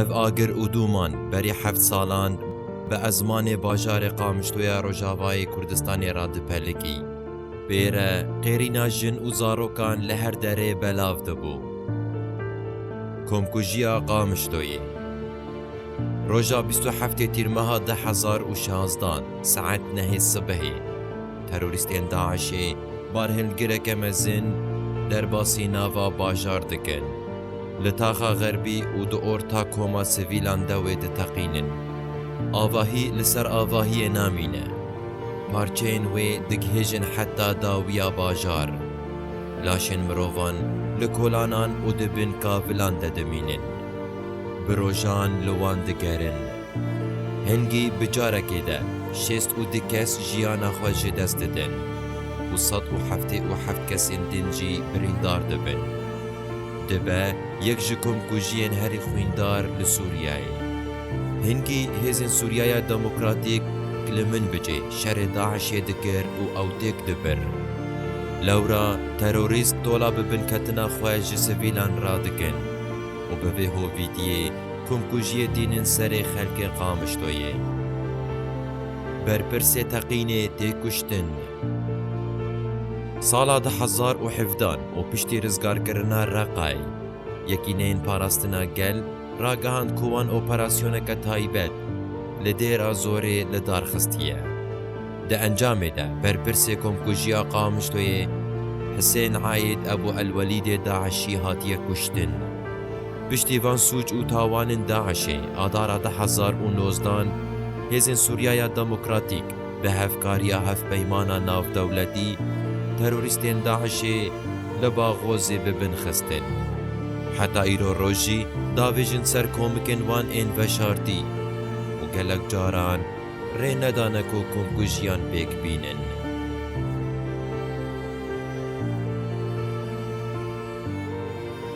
Ev agir û dûman berî heft salan bi ezmanê bajarê Qamişlo ya Rojavayê Kurdistanê re dipelikî. Pê re qêrîna jin û zarokan li her derê belav dibû. Komkujiya Qamişloyê. Roja bîst û heftê Tîrmeha du hezar û şazdan saet nehê sibehê. Terorîstên DAIŞ'ê barhilgireke mezin derbasî nava bajar dikin. Li taxa xerbî û di orta koma sivîlan de wê diteqînin. Avahî li ser avahiyê namîne. Parçeyên wê digihêjin heta dawiya bajar. Laşên mirovan li kolanan û di bin kavilan de dimînin. Bi rojan li wan digerin. Hingî bi carekê de şêst û du kes jiyana xwe ji dest didin û sed û heftê û heft kesên din jî birîndar dibin. Dibe yek ji komkujiyên herî xwîndar li Sûriyeyê. Hingî hêzên Sûriyaya Demokratîk k li min bicê şerê DAIŞ'ê dikir û ew têk dibir. Lewra terorîst tola bi binketina xwe ji sivîlan radikin û bi vê hovîtiyê, Komkujiyê tînin serê xelkê Qamişloyê. Berpirsê teqînê tê kuştin. Sala du hezar û hevdan û piştî rizgarkirina Reqay, Yekîneyên Parastina Gel ragihand ku wan operasyoneke taybet li Dêra Zorê li dar xistiye. Di encamê de berpirsê Komkujiya Qamişloyê Hisên Aîd Ebû Elwelîdê Daişî hatiye kuştin. Piştî van sûc û tawanên DAIŞ'ê adara du hezar û nozdan hêzên Sûriyaya Demokratîk bi hevkariya Hevpeymana Navdewletî terorîstên DAIŞ'ê li Baghozê bi bin xistin. Heta îro roj jî davêjin ser komikên wan ên veşartî û gelek caran rê nedane ku komkujiyan pêk bînin.